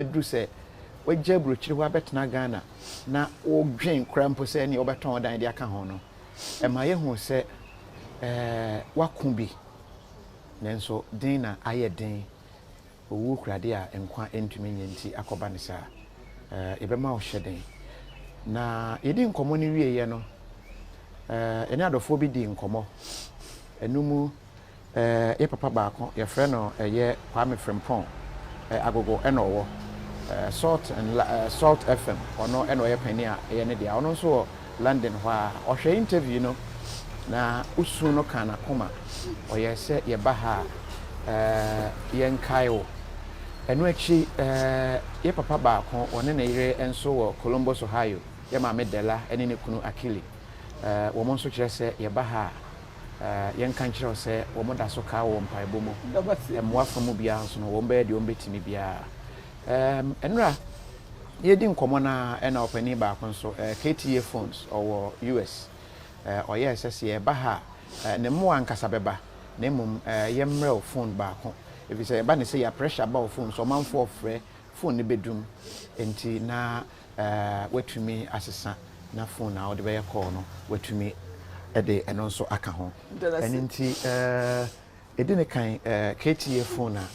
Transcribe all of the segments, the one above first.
duru sɛ wagya aburokyire hɔ abɛtena Ghana na wodwen koraa mpo sɛ ɛnneɛ wobɛtɔn wo dan de aka ho no, ɛma yɛhu sɛ woako bi, nanso den na ayɛ den, owuo kura adeɛ a nkwa ntumi nyɛ nti akɔba no saa. Yɛbɛma wo hyɛden. Na yɛdi nkɔmmɔ no wieeɛ no, yɛne adɔfoɔ bi dii nkɔmmɔ, ɛno mu. Eh, yɛ papa baako, yɛfrɛ no eh, yɛ Kwame Frimpong, eh, Agogo ɛna ɔwɔ eh, Salt and Li eh, Salt FM, ɔno ɛna ɔyɛ panin a ɛyɛ ne dea, ɔno nso wɔ London hɔ ara. Ɔhwɛ interview no na osu no kaa n'akoma, ɔyɛɛ sɛ yɛba ha a eh, yɛnkae wo. Ɛno akyi eh, yɛ papa baako, ɔne ne yere nso wɔ Columbus, Ohio, yɛ maame Della ɛne ne kunu Akili, eh, wɔn nso kyerɛ sɛ yɛba ha a, yɛnka nkyerɛ wo sɛ wɔda so kaa wɔ mpaebɔ mu. Mmoa fa mu biara nso no, wɔbɛyɛ deɛ wɔbɛtumi biara. Nnora, yɛdi nkɔmmɔ no a, ɛna ɔpanin baako nso, KTA Phones, ɔwɔ US. Ɔyɛɛ sɛ sɛ yɛba ha a, ne mmoa ankasa bɛba, na mmom yɛmmrɛ wo phone baako. Ɛfiri sɛ ɛba ne sɛ yɛ a pressure ba wo phone so, ɔmanfoɔ frɛ, phone no bɛdum. Enti na woatumi asesa na fon a wode bɛyɛ call no woatumi de ɛno nso aka ho. Ɛno nti ɛdi ne kan KTDA fon a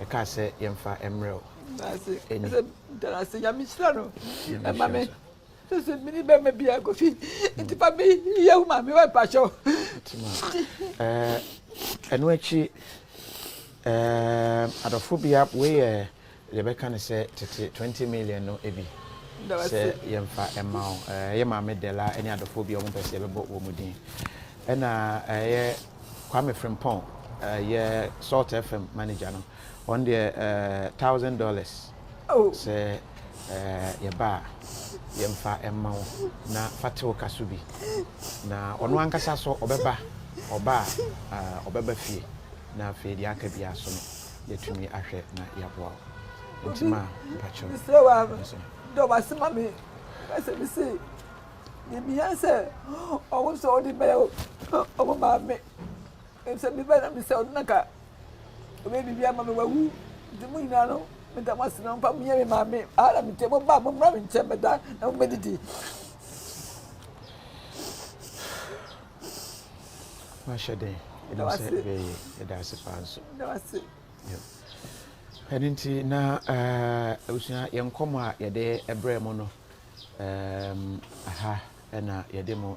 ɛkaa sɛ yɛmfa mmerɛ wo. Darase nyame hyira no ɛma me sese mini bɛma bi a kofi nti fa me yɛ wo maame wa mpakyɛw ɛno akyi adɔfo bia wei yɛ Yɛbɛka no sɛ tete twenty million no bi sɛ yɛmfa mma wo. Ɛyɛ Maame Della ne adɔfoɔ bi a wɔpɛ sɛ yɛbɛbɔ wɔn din. Ɛna ɛyɛ Kwame Frimpong, ɛyɛ Salt FM manager no, wɔn deɛ thousand dollars sɛ yɛba a yɛmfa mma wo na fa te wo ka so bi. Na ɔno ankasa so ɔbɛba, ɔba a ɔbɛba fie na afei deɛ aka biara so no yɛatumi ahwɛ na yɛaboa wo nti ma mpakyɛw mesrɛ wa dɔ wase ma me ɛsɛ me se yɛmia sɛ ɔwo sɛ ɔde bɛyɛ ɔmo maame ɛsɛ me bɛ na mesɛ ɔde naka ɔbɛyɛ biribi ama me wawu nti mo nyinaa no meda mo ase na mfa moyɛ me maame ara metɛ mo ba mommra me nkyɛn mɛda na mobɛdidi Mahyɛ den. Ɛdɔ sɛ ɛbɛyɛ. Ɛda ase paa nso. Ɛda ase. Ɛno nti na abusua eh, yɛn nkɔmɔ a yɛde brɛ mu no eh, aha ɛna yɛde mu